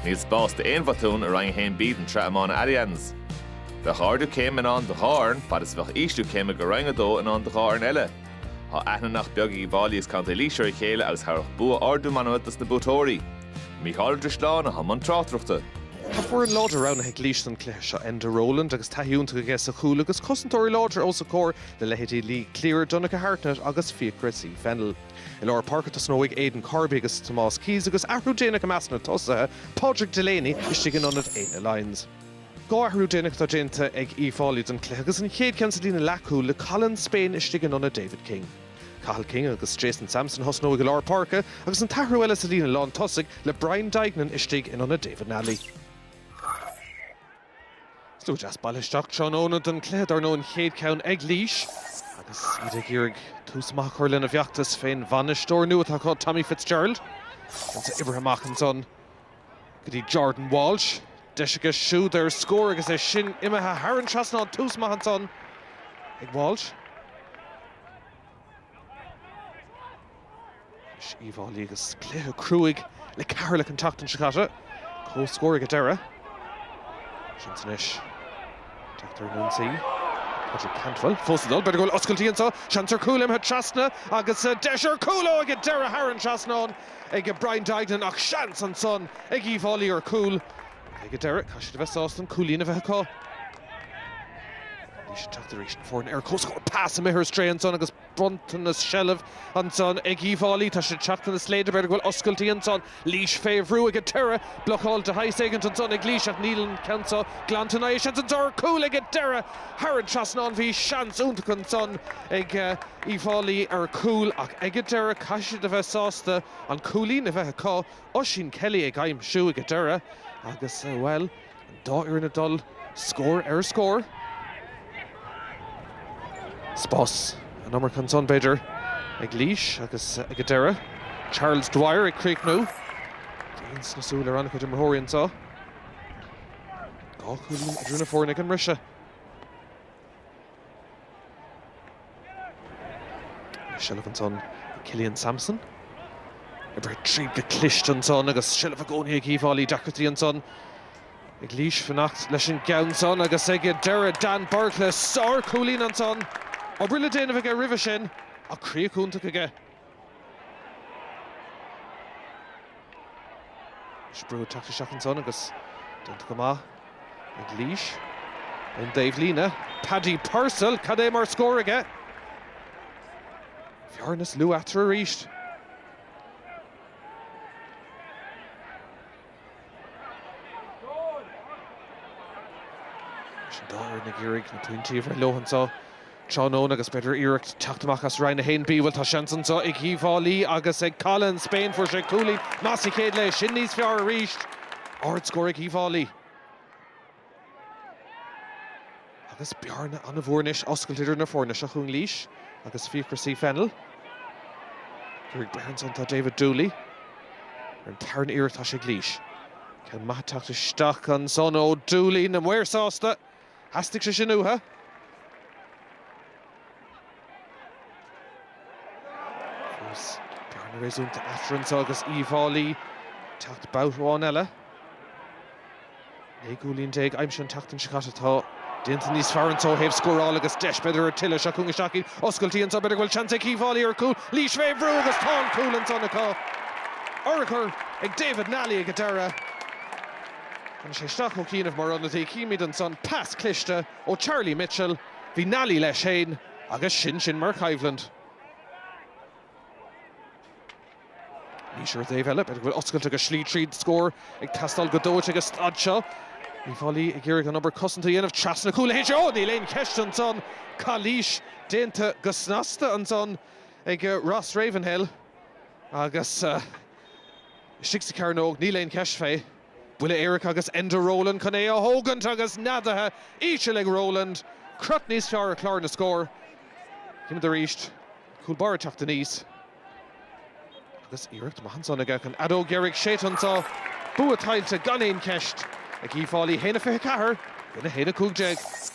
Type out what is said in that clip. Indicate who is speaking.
Speaker 1: Níl spás d'aon bhotún i Roinn 1B den tSraith Iomána Allianz. Bheadh ardú céime i ndán do dhá fhoireann fad is a bheadh ísliú céime go Roinn 2 i ndán do dhá fhoireann eile. Tá aithne nach beag ag Uíbh Fháilí agus Contae Laois ar a chéile agus thabharfadh bua ardú meanma dos na buaiteoirí. Mícheál Ó Drisleáin atá i mbun tráchtaireachta. Tá
Speaker 2: foireann láidir roghnaithe ag Laois don chluiche seo, Enda Rowland agus taithí iontach aige sa chúl agus cosantóirí láidre os a comhair le leithéidí Lee Cleere, Donncha Hartnett agus Fiachra C Fennell. I lár páirce tosnóidh Aidan Corby agus Tomás Keyes agus athrú déanach i measc na dtosaithe, Pádraig Delaney istigh in ionad Éanna Lyons. Dhá athrú déanach atá déanta ag Uíbh Fháilí don chluiche agus an chéad cheann sa líne leathchúil le Colin Spain istigh in ionad David King. Cathal King agus Jason Sampson a thosnóidh i lár páirce agus an t-athrú eile sa líne lántosaigh le Brian Duignan istigh in ionad David Nally. Slua deas bailithe isteach tráthnóna don chluiche dar ndóigh, an chéad cheann ag Laois agus iad ag iarraidh tús maith a chur lena bhfeachtas fén bhainisteoir nua atá acu, Tommy Fitzgerald. Anso oibrithe amach ansan go dtí Jordan Walshe. Deis aige siúd ar scór agus é sin imithe thar an trasnán. Tús maith ansan ag Walshe. Uíbh Fháilí agus cluiche cruaidh le Ceatharlach an tseachtain seo caite. Comhscór ag an deireadh. Seans anois teacht ar an ionsaí. Padraig Cantwell fós ag dul. B'fhéidir go bhfuil oscailtí anso. Seans ar chúl imithe trasna agus deis ar chúl. Ó ag an deireadh thar an trasnán ag Brian Duignan ach seans ansan ag Uíbh Fháilí ar chúl. Ag an deireadh caithfidh siad a bheith sásta an cúilín a bheith acu. Laois ag teacht arís, na foirne ar comhscór. Pas imithe ar strae ansan agus bronntanas seilbh ansan ag Uíbh Fháilí. Tá siad ag teacht ina slaoda, b'fhéidir go bhfuil oscailtí ansan. Laois fé bhrú ag an deireadh. Blocáil de shaghas éigint ansan ag Laois ach níl an ceann seo glanta ná é. Seans anso ar chúl ag an deireadh. Thar an trasnán. Bhí seans iontach ansan ag Uíbh Fháilí ar chúl ach ag an deireadh caithfidh siad a bheith sásta an cúilín a bheith acu. Oisín Kelly ag aimsiú ag an deireadh agus, bhuel, An dá fhoireann ag dul scór ar scór. Spás an iomarca ansan, b'fhéidir, ag Laois agus ag an deireadh Charles Dwyer ag críochnú. Grian sna súile ar an-chuid imreoirí anso. Dhá chúilín idir na foirne ag an mbriseadh. Seilbh ansan ag Killian Sampson. Oibrithe tríd go cliste ansan agus seilbh i gcónaí ag Uíbh Fháilí. Deacrachtaí ansan ag Laois fanacht leis an gceann san agus ag an deireadh Dan Bourke le sár-chúilín ansan. Obair le déanamh aige roimhe sin ach críoch iontach aige. Brú ag teacht isteach ansan agus déanta go maith ag Laois ón dtaobh líne. Paddy Purcell, cad é mar scór aige! Bearna níos lú eatarthu arís. Leis an dá fhoireann ag iarraidh na pointí a bhreith leo anseo tráthnóna agus b'fhéidir iarracht teacht amach as Roinn 1B, bhuel tá seans anseo ag Uíbh Fhailí agus ag Colin Spain. Fuair sé cúilín maith sa chéad leath, sin níos fearr arís. Ard scór ag Uíbh Fhailí. Agus bearna an-mhór anois oscailte idir na foirne. Seo chugainn Laois agus Fiachra C. Fennell. Dhírigh Burns ansan tá David Dooley. Ar an tarna iarracht tá sé ag Laois. Ceann maith teacht isteach ansan ó Dooley, na maoir sásta. Theastaigh sé sin uathu. Agus bearna réasúnta eatarthu anseo agus Uíbh Fhailí ag teacht babhta amháin eile, naoi gcúilín déag aimsithe an tseachtain seo caite, tá déanta níos fearr anseo ó thaobh scórála agus deis, b'fhéidir, ar tuilleadh. Seo chugainn isteach iad, oscailtí anseo, b'fhéidir go bhfuil seans ag Uíbh Fhailí ar chúl. Laois fé bhrú agus tá an cúl ansan acu. Urchar ag David Nally ag an deireadh. Tháinig sé isteach ó chianaibh mar ionadaí, chímíd ansan pas cliste ó Charlie Mitchell. Bhí Nally leis féin agus sin sin mar choimhlint. Laois ar an dtaobh eile, b'fhéidir go bhfuil oscailte go slí tríd scór ag teastáil go dóite ag an staid seo. Uíbh Fhailí ag iarraidh an obair cosanta a dhéanamh trasna cúl b'fhéidir. Ó! Níl aon cheist ansan, calaois déanta go snasta ansan ag Ross Ravenhill agus istigh sa cearnóg, níl aon cheist fé. Buille éirice agus Enda Rowland chun é a thógaint agus neadaithe íseal ag Rowland. Crot níos fearr ar chlár na scór. Címid arís cúl báire teacht aníos. Agus iarracht maith ansan aige an fheadóg dheiridh séidte anso. Bua tuillte gan aon cheist ag Uíbh Fhailí 1-24 i gcoinne 1-15.